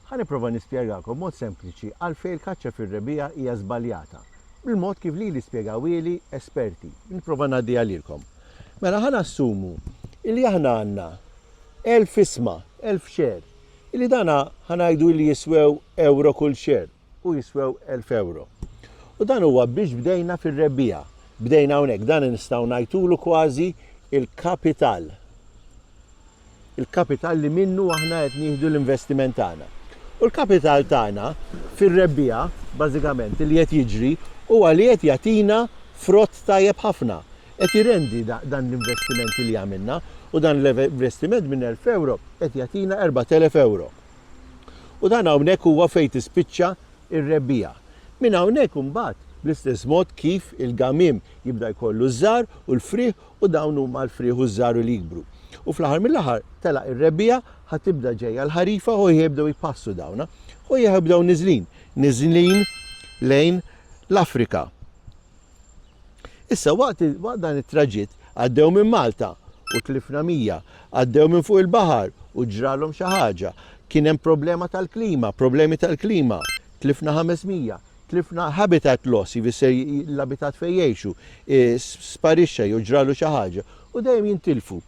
Ħa nipprova nispjegakom b'mod sempliċi għalfejn il-kaċċa fir-rebbiegħa hija żbaljata, bil-mod kif lili spjegawieli esperti. Nipprova ngħaddiha lilkom. Mela ħa nassumu illi aħna għandna elf isma, elf share, illi dana ħa ngħidu illi jiswew ewro kull share. u jiswew elf ewro. U dan huwa biex bdejna fir-rebbiegħa. Bdejna hawnhekk, dan nistgħu ngħidulu kważi l-kapital. Il-kapital li minnu aħna qed nieħdu l-investiment tagħna. U l-kapital tagħna fir-rebbiegħa, bażikament, li qed jiġri huwa li qed jagħtina frott tajjeb ħafna. Qed jirendi dan l-investiment li għamilna u dan l-investiment minn elf ewro qed jagħtina erbgħat elef ewro. U dan hawnhekk huwa fejn tispiċċa r-rebbiegħa. Minn hawnhekk imbagħad, bl-istess mod kif il-gamiem jibda jkollu ż-żgħar u l-frieħ u dawn huma l-frieħ u ż-żgħar u li jikbru. U fl-aħħar mill-aħħar telaq ir-rebbiegħa, ħa tibda ġejja l-ħarifa u ħa jibdew jpassu dawn. U ħa jibdew niżlin, niżlin lejn l-Afrika. Issa waqt waqt dan it-traġitt għaddew minn Malta u tlifna mija. Għaddew minn fuq il-baħar u ġralhom xi ħaġa. Kien hemm problema tal-klima, problemi tal-klima. Tlifna ħames mija. Tlifna habitat loss, jfisser l-abitat fejn jgħixu, sparixxa jew ġralu xi ħaġa. U dejjem jintilfu.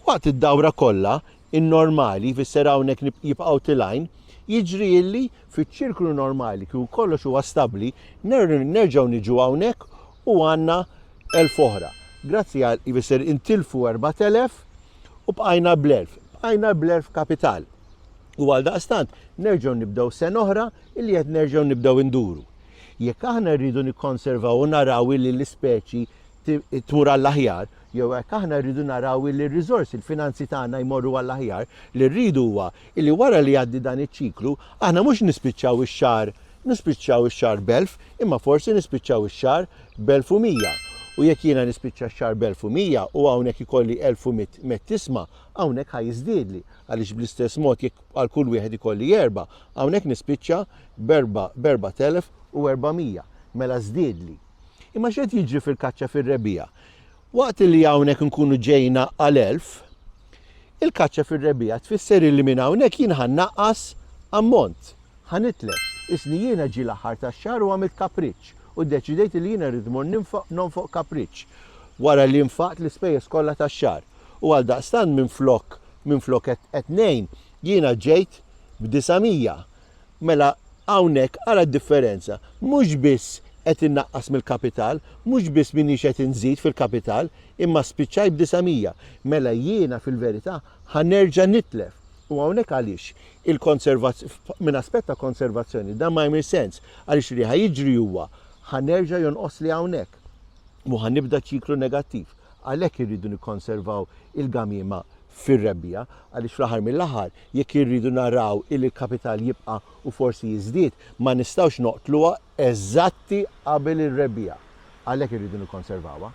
Waqt id-dawra kollha, in-normali, jfisser hawnhekk jibqgħu tilgħin, jiġri illi Fiċ-ċirklu normali kieku kollox huwa stabbli, nerġgħu niġu hawnhekk u għandna 1000 oħra. Grazzi għal ifisser intilfu 4000 u bqajna bl-1000. Bqajna bl-1000 kapital. U għal daqstant nerġgħu nibdew sena oħra illi qed nerġgħu nibdew induru. Jekk aħna rridu nikkonservaw u naraw illi l-ispeċi tmur għall-aħjar, jew hekk aħna rridu naraw li r-riżorsi, l-finanzi tagħna jmorru għall-aħjar, li rridu huwa Illi wara li jgħaddi dan iċ-ċiklu, aħna mhux nispiċċaw ix-xahar nispiċċaw ix-xahar b'elf, imma forsi nispiċċaw ix-xahar b'elf u mija. U jekk jiena nispiċċa x-xahar b'elf u mija u hawnhekk ikolli elf u mitt mett isma, hawnhekk ħa jiżdiedli, għaliex bl-istess mod jekk għal kull wieħed ikolli erba', hawnhekk nispiċċa b'erba' b'erbat elf u erbamija. Mela żdiedli. Imma x'qed jiġri fil-kaċċa fir-rebbiegħa? Waqt li hawnhekk inkunu ġejna għal elf, il-kaċċa fir-rebbiegħa tfisser illi minn hawnhekk jien ħa nnaqqas ammont, ħa nitlef. Isni jiena ġie l-aħħar tax-xahar u għamilt kapriċċ u ddeċidejt illi jiena rrid immur ninfoq, nonfoq kapriċċ, wara li nfaqt l-ispejjeż kollha tax-xahar. U għaldaqstant minflok, minflok qed, qed ngħin, jiena ġejt b'disa' mija. Mela hawnhekk ara d-differenza, mhux biss qed innaqqas mill-kapital, mhux biss m'iniex qed inżid fil-kapital, imma spiċċajt b'disa' mija. Mela jiena fil-verità ħa nerġa' nitlef. U hawnhekk għaliex il-konservaz-, minn aspett ta' konservazzjoni, dan ma jagħmilx sens, għaliex li ħa jiġri huwa ħa nerġa' jonqosli hawnhekk u ħa nibda ċiklu negattiv. Għalhekk irridu nikkonservaw il-gamiema fir-rebbiegħa għaliex fl-aħħar mill-aħħar jekk irridu naraw illi l-kapital jibqa' u forsi jiżdied ma nistgħux noqtluha eżatti qabel ir-rebbiegħa. Għalhekk irridu nikkonservawha.